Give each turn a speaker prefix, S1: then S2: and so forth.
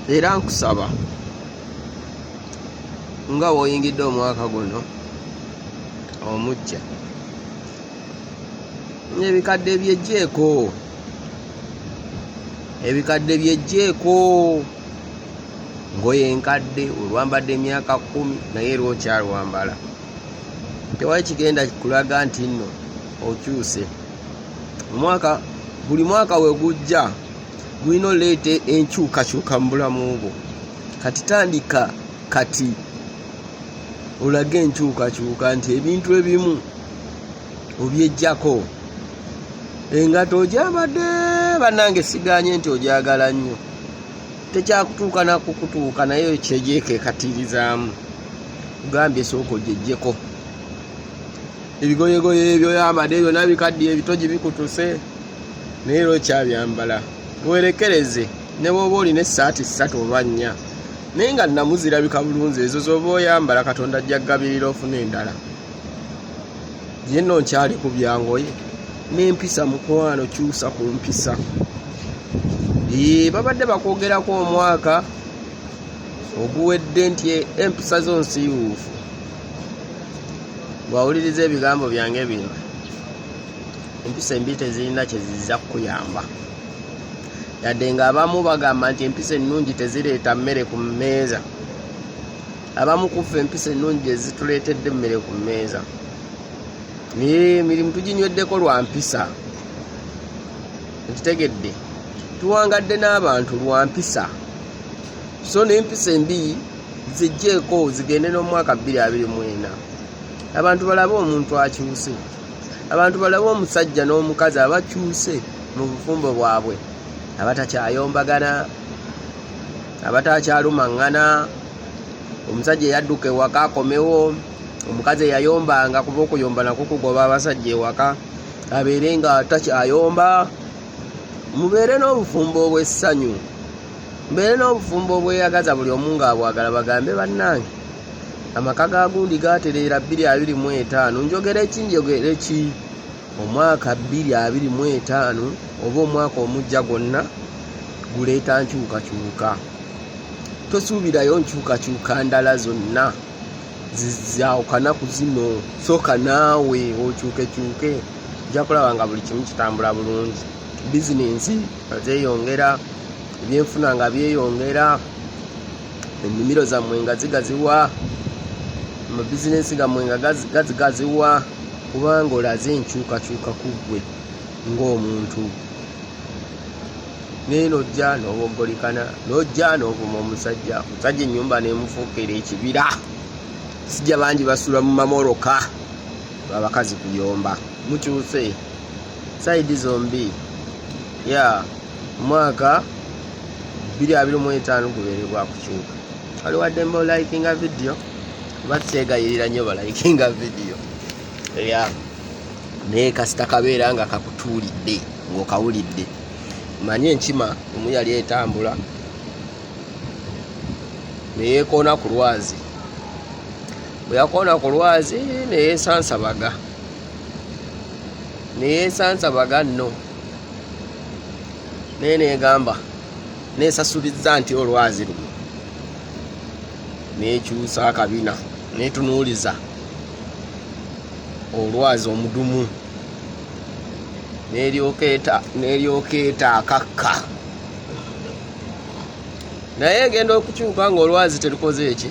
S1: era nkusaba nga woyingidde omwaka guno omujja ebikadde byejjeeko ebikadde byejjeeko ngoye enkadde olwambadde emyaka kumi naye era okyalwambala tewali kigenda kulaga nti nno okyuse omwaka buli mwaka wegujja mulina oleeta enkyukakyuka mu bulamu bwo kati tandika kati olage enkyukakyuka nti ebintu ebimu obyejjako engato ogyabadde bannange siganye nti ogyagala nnyo tekyakutuuka nakukutuuka naye kyegyekekatirizaamu ogambye esooka ogyejjeko ebigoyegoye ebyo yambadde byona bikaddiye ebitogi bikutuse naye era okyabyambala werekereze ne bwoba olina essaati ssatu oba nnya naye nga nnamu zirabika bulunzi ezo zoba oyambala katonda ajja kugabirira ofuna endala yenno nkyali ku byangoye n'empisa mukwano kyusa ku mpisa ee babadde bakwogerako omwaka oguwedde nti empisa zo nsiiwuufu bwawuliriza ebigambo byange bino empisa embi tezirina kyezizza kukuyamba yadde nga abamu bagamba nti empisa ennungi tezireeta mmere ku mmeeza abamu kuffe empisa ennungi ezituleetedde emmere ku mmeeza naye emirimu tuginyweddeko lwa mpisa ekitegedde tuwangadde n'abantu lwa mpisa so n'empisa embi zijjeeko zigende n'omwaka 224 abantu balabe omuntu akyuse abantu balabe omusajja n'omukazi abakyuse mu bufumbo bwabwe abatakyayombagana abatakyalumaŋŋana omusajja eyadduka ewaka akomewo omukazi eyayombanga kuba okuyomba nako kugoba abasajja ewaka abeere nga takyayomba mubeere n'obufumbo obw'essanyu mbeere n'obufumbo obweyagaza buli omu ng'abwagala bagambe bannange amaka ga gundi gatereera 225 njogera eki njogera eki omwaka 225 oba omwaka omujja gwonna guleeta nkyukakyuka tosuubirayo nkyukakyuka ndala zonna zizawukana ku zino sooka naawe okyukekyuke nja kulaba nga buli kimu kitambula bulungi bizinensi nga zeyongera ebyenfuna nga byeyongera ennimiro zammwe nga zigaziwa amabizinensi gammwe nga gazigaziwa kubanga olaze enkyukakyuka ku ggwe ng'omuntu naye nojja n'oboggolikana nojja n'ovuma omusajja omusajja ennyumba nemufuukera ekibira sijja bangi basula mu mamoroka abakazi kuyomba mukyuse side zombi ya mwaka 2025 gubeere gwa kukyuka wali waddembe olikinga vidiyo kuba tukyegayirira nnyo balikinga vidiyo ya naye kasita kabeera nga kakutuulidde ng'okawulidde manye enkima omu yali etambula neyekoona ku lwazi bwe yakoona ku lwazi neyesansabaga neyesansa baganno naye negamba nesasuliza nti olwazi luno nekyusa akabina netunuuliza olwazi omudumu neryoka eta akakka naye egenda okukyuka nga olwazi terukoze eki